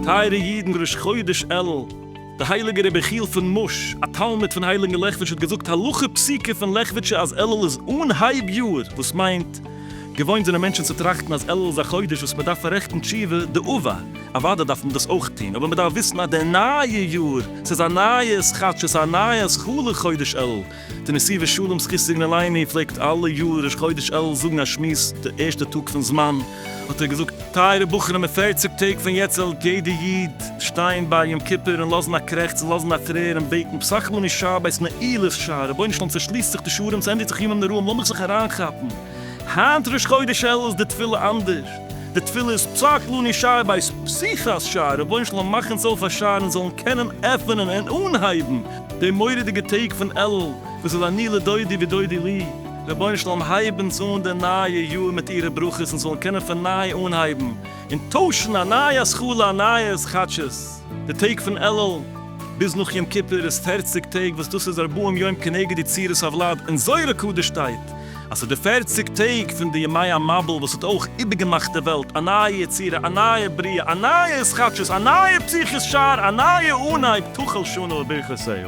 טייערע אידן ראש חודש אלול, דער הייליגער רבי יחיאל פון מאש, א תלמיד פון הייליגן לעכוויטש האט געזאגט הלכה פסוקה פון לעכוויטשע אז אלול איז אנהייב יאר, וואס מיינט, געוואוינט זענען מענטשן צו טראכטן אז אלול איז א חודש וואס מען דארף פאררעכטן תשובה, די אב א. אוודאי דארף מען דאס אויך טון, אבער מען דארף וויסן אז די נייע יאר, ס'איז א נייע ס ח, ס'איז א נייע ס ח לחודש אלול, די נשיא ושלום זכותו יגן עלינו פלעגט אלע יאר ראש חודש אלול זאגן א שמועס די ערשטע טאג פון זמן, האט ער געזאגט, טייערע בחורים אין פֿערציק טעג פון יעצט זאל יעדע איד שטיין ביי יום כיפור און לאזן א קרעכץ און לאזן א טרער און בעטן פסח לנו שבת נעילת שער, רבונו של עולם צעשליסט זיך די שערים ס'ענדיגט זיך ימים נוראים לאמיך זיך אריינכאפן, היינט ראש חודש אלול איז די תפילה אנדערש, די תפילה איז פסח לנו שער בית פסיחת שער, רבונו של עולם מאך אונז אויף א שער אונז זאלן קענען עפענען און אנהייבן די מורא'דיגע טעג פון אלול וואס איז אני לדודי ודודי לי, רבונו של עולם הייב אונז אן די נייע יאר מיט אירע ברכות אונז זאלן קענען פון ניי אנהייבן און טוישן א נייע השכלה א נייע התחדשות, די טעג פון אלול ביז נאך יום כיפור איז פערציג טעג וואס דאס איז ארבעים יום כנגד יצירת הוולד און זוהר הקדוש שטייט. אז ס'איז די פערציג טעג פון די ימי המבול וואס האט אויך איבערגעמאכט די וועלט, א נייע יצירה, א נייע בריאה, א נייע התחדשות, א נייע פתיחת שער, א נייע אנהייב, תחל שנה וברכותיה.